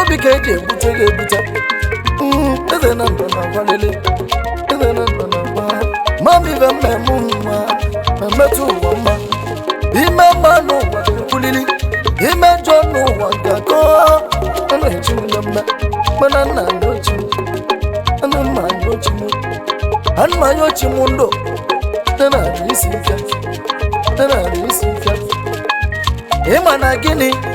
obi ka eji ebute gị ebute Mm, eze na ndụ na agwalele eze na ndụ na agwa mami ve mmemme mma ma mmetụ ụwa mma ime mma n'ụwa kwulili ime njọ n'ụwa gakọ na-echi m na mma mana nna ndị ochi m ana mma ndị ochi m ana m anya ochi m ndụ dị na isi ike dị na isi ike ịma na gịnị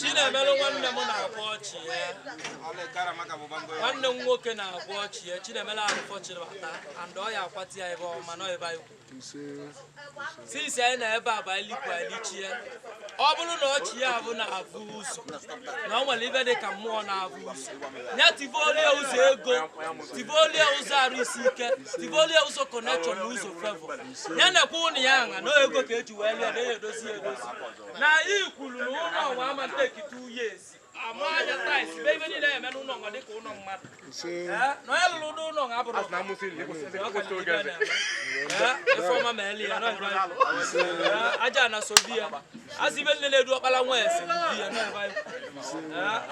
chinemere nwanne m na-akwa ọchị ya nwanne m nwoke na-akwa ọchị ya chinemere arụfọchiri bata and ọ ya akwati ya ebe ọma nọ ebe anyị kwuru since anyị na ebe a bụ anyị likwa alichie ọ bụrụ na ọchị ya bụ na-avụ ụzọ na ọ nwere ive dị ka mmụọ na-avụ ụzọ ya tivolie ụzọ ego tivolie ụzọ arụ isi ike tivolie ụzọ connection na ụzọ favour ya nekwa ụnọ ya nwa na ego ka eji wee lụọ na ya edozi ya edozi na i kwuru na ụlọ nwa ama take two years aja na so di ya asị ibe nne na-edu ọkpara nwa ese di ya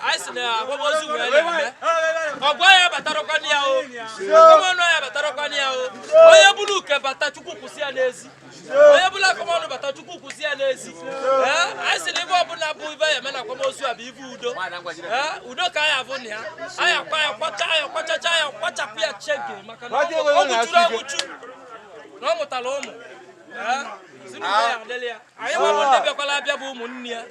anyị si na akwamozu wee na-eme ọgwa ya batarakwa ya o akọmọnụ ya batarakwa ya o onye buru uke bata chukwu kwụsị ya n'ezi onye buru akọmọnụ bata chukwu kwụsị ya n'ezi anyị si na ive ọbụla bụ ive ya eme na akwamozu a bụ ive udo udo ka anyị avụ na ya anyị akwa ya kwacha ya kwachacha ya kwachapụ ya chege maka na ọ mụchuru ọmụchu na ọ mụtara ụmụ si na ya adịla ya anyị nwa bụ ndị bịakwala abịa bụ ụmụnne ya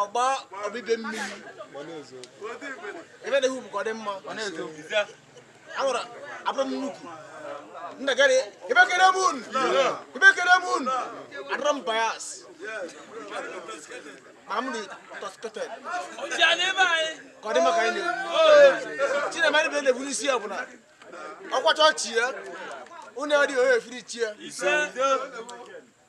ọgba ọbịbịa mmiri ebe na-ehu bụ ka ọ dị mma ahụrụ abụrụ m nnukwu nna gari ebe kere m unu ebe kere m unu adịrọ m bias ma m dị tọskọtọd ka ọ dị maka anyị na-ekwu chinema ndị na-ekwu n'isi ya bụ na ọ kwachaa ọchị ya unu adịghị onye efiri chi ya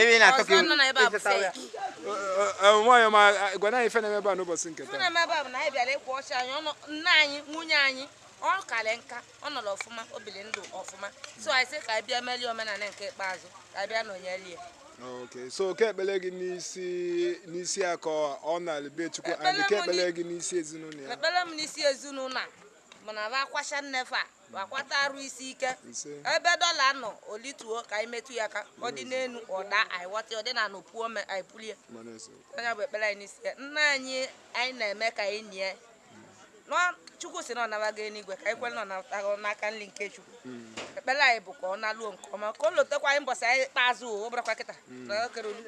ebe na-atọ ka nwaanyị ọma gwa na ife na-eme ebe a n'ụbọchị nke taa ọ karị nka ọ nọrọ ọfụma o biri ndụ ọfụma so anyị sị ka anyị bịa merie omenala nke ikpeazụ ka anyị bịa nọnyere ya okay so kee ekpele gị n'isi n'isi ya ka ọ na-ala be chukwu and kee ekpele gị n'isi ezinụlọ ya ekpele m n'isi ezinụlọ a bụ na va akwacha nna va gbakwata arụ isi ike ebe dọla nọ olituo ka anyị metụ ya aka ọ dị n'elu ọ da anyị ghọta ọ dị n'ana o puo ome anyị bulie ọ nya bụ ekpere anyị n'isi ya nna anyị anyị na-eme ka anyị nie nọ chukwu si na ọ nabago eluigwe ka anyị kwere na ọ natago n'aka nri nke chukwu ekpere anyị bụ ka ọ naluo nke ọma ka o lotekwa anyị mbọsị anyị ikpeazụ ọ bụrakwa kịta na okere olu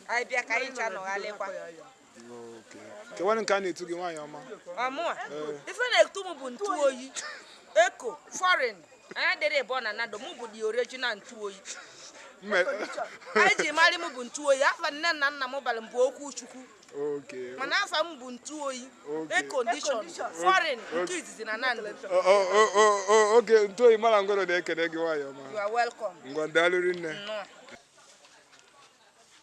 anyị bịa ka anyị ncha nọgharịkwa kewanụ nke a na-etu gị nwaanyị ọma ọ mụa ife a na-etu m bụ ntu oyi air con foreign anyị dị ịbụọ na nando mụ bụ the original ntu oyi anyị ji marị m bụ ntu oyi afa nne na nna m bara m bụ okwuchukwu mana afa m bụ ntu oyi air condition foreign nke izizi na nando oge ntu oyi mara ngwero na-ekene gị nwaanyị ọma ngwa daalụ rinne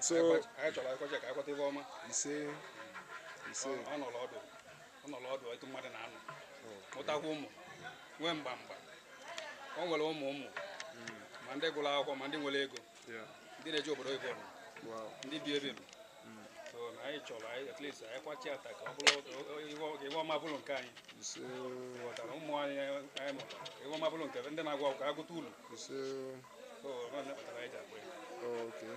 so anyị chọrọ a kwacha ka a kwata ife ọma ise ise ọ nọrọ ọdụ ọ nọrọ ọdụ etu mmadụ na-anọ mụtakwa ụmụ nwee mgba mgba o nwere ụmụ ụmụ ma ndị gụrụ akwụkwọ ma ndị nwere ego ndị na-eje obodo oyibo ndị bi ebe a hmm. so na anyị chọrọ anyị at least anyị kwachaa taa ka ọ bụrụ ife ọma bụrụ nke anyị ghọtara ụmụ anyị anyị mụtara ife ọma bụrụ nke ndị na-agụ akwụkwọ agụta ụlọ Okay.